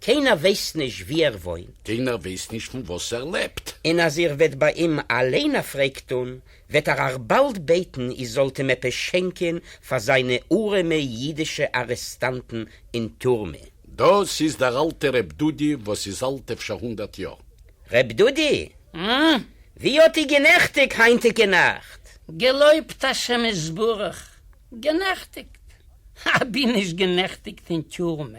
קיינער ווייסט נישט וואו ער וואוינט. קיינער ווייסט נישט פון וואס ער לעבט. און אז איר וועט ביי אים אליין א פרעג טאן, וועט ער אייך באלד בעטן איר זאלט אים עפעס שענקען פאר זיינע ארעמע אידישע ארעסטאנטן אין טורמע. דאס איז דער אלטער ר' דודי וואס איז אלט אפשר הונדערט יאר. ר' דודי, ווי האט איר גענעכטיגט היינטיגע נאכט? געלויבט השם יתברך, גענעכטיגט? אבי נישט גענעכטיגט אין טורמע.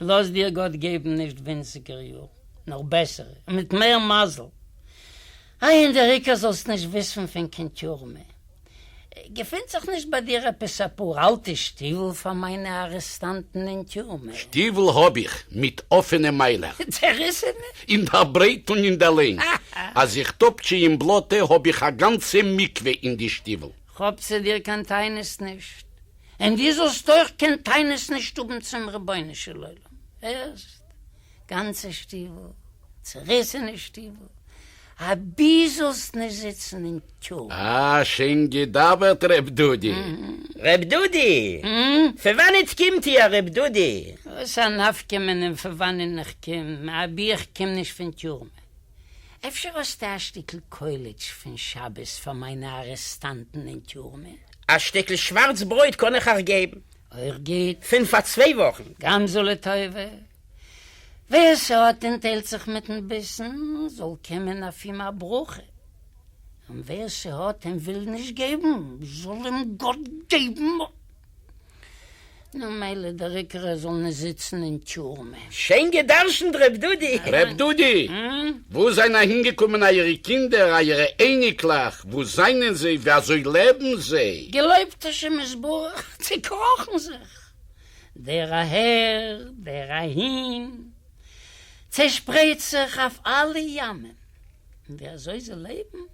לאז דיר גאט געבן נישט ווינציגער יארן, נאר בעסערע, און מיט מער מזל. איי און דער עיקר זאלסט נישט וויסן פון קיין טורמע. געפינט זיך נישט ביי דיר עפעס אפאר אלטע שטיוול פאר מיינע ארעסטאנטן אין טורמע? שטיוול האב איך, מיט אפענע מיילער. צעריסענע? אין דער ברייט און אין דער לענג. אז איך טאפטשע אין בלאטע האב איך א גאנצע מקווה אין די שטיוול. כאפ צו דיר קיין טענות נישט. און דו זאלסט אויך קיין טענות נישט האבן צום רבונו של עולם, הערסט? גאנצע שטיוול, צעריסענע שטיוול, אבי זאלסט נישט זיצן אין קו. אה, שיין געדאווערט ר' דודי. ר' דודי! פון וואנעט קומט איר ר' דודי? וואס א נפקא מינה פון וואנען איך קום, אבי איך קום נישט פון טיורמע? אפשר האסטו א שטיקל קוילעטש פון שבת פאר מיינע ארעסטאנטן אין טיורמע? א שטיקל שווארץ ברויט קען איך אייך געבן. אויך גוט. פון פאר צוויי וואכן. גם זו לטובה. ווער ס'האט און טיילט זיך מיט'ן ביסן, זאל קומען אויף אים א ברכה. און ווער ס'האט און וויל נישט געבן, זאל אים גאט געבן. נו מילא דער עיקר ער זאל נישט זיצן אין טורמע. שיין גע'דרשנ'ט ר' דודי! ר' דודי! וואו זענען אהינגעקומען אייערע קינדער, אייערע אייניקלעך, וואו זענען זיי, ווי אזוי לעבן זיי? געלויבט השם יתברך, צעקראכן זיך, דער אהער, דער אהין, צעשפרייט זיך אויף אלע ימים, און ווי אזוי זיי לעבן,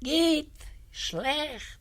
גוט, שלעכט,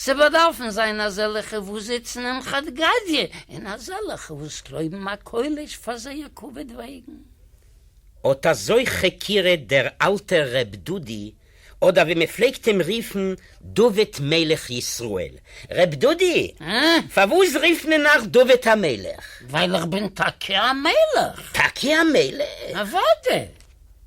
ס'באדארפן זיין אזעלעכע וואס זיצן אין חד גדיא און אזעלעכע וואס קלויבן א קוילעש פאר זייער כבוד וועגן. אט אזוי כ'הכירע דער אלטער ר' דודי, אדער ווי מ'פלעגט עם ריפן דוד מלך ישראל. ר' דודי! אה? פארוואס ריפט מען נאך דוד המלך? ווייל איך בין טאקע א מלך! טאקע א מלך? אוודאי!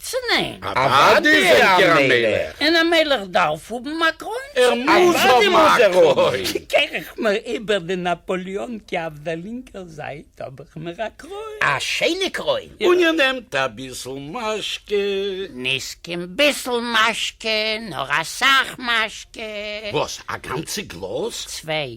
צו ניין? אוואדי זענט איר א מלך. און א מלך דארף האבן א קרוין צו ניין? אוואדי מוז ער האבן. קער איך מיר איבער די נאפאליאן קי אויף די לינקער זייט האב איך מיר א קרוין. א שיינע קרוין. און איר נעמט אביסל משקה. נישט קיין ביסל משקה נאר אסאך משקה. וואס א גאנצע גלאז? צוויי.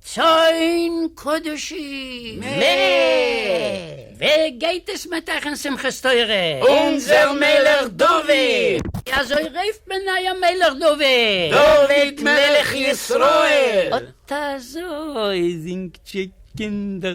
צאן קדשים! מ ב גייט עס מיט אייך אין שמחת תורה! אונזער מלך דוד! ווי אזוי רופט מען אייער מלך דוד? דוד מלך ישראל! אט אזוי זינגט זשע קינדער!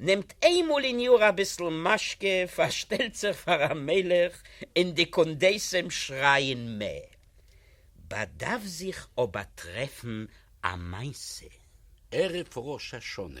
נעמט איינמאל אין יאר אביסל משקה, פארשטעלט זיך פאר א מלך און די קונדסים שרייען מע באדארף זיך אבער טרעפן א מעשה. ערב ראש השנה,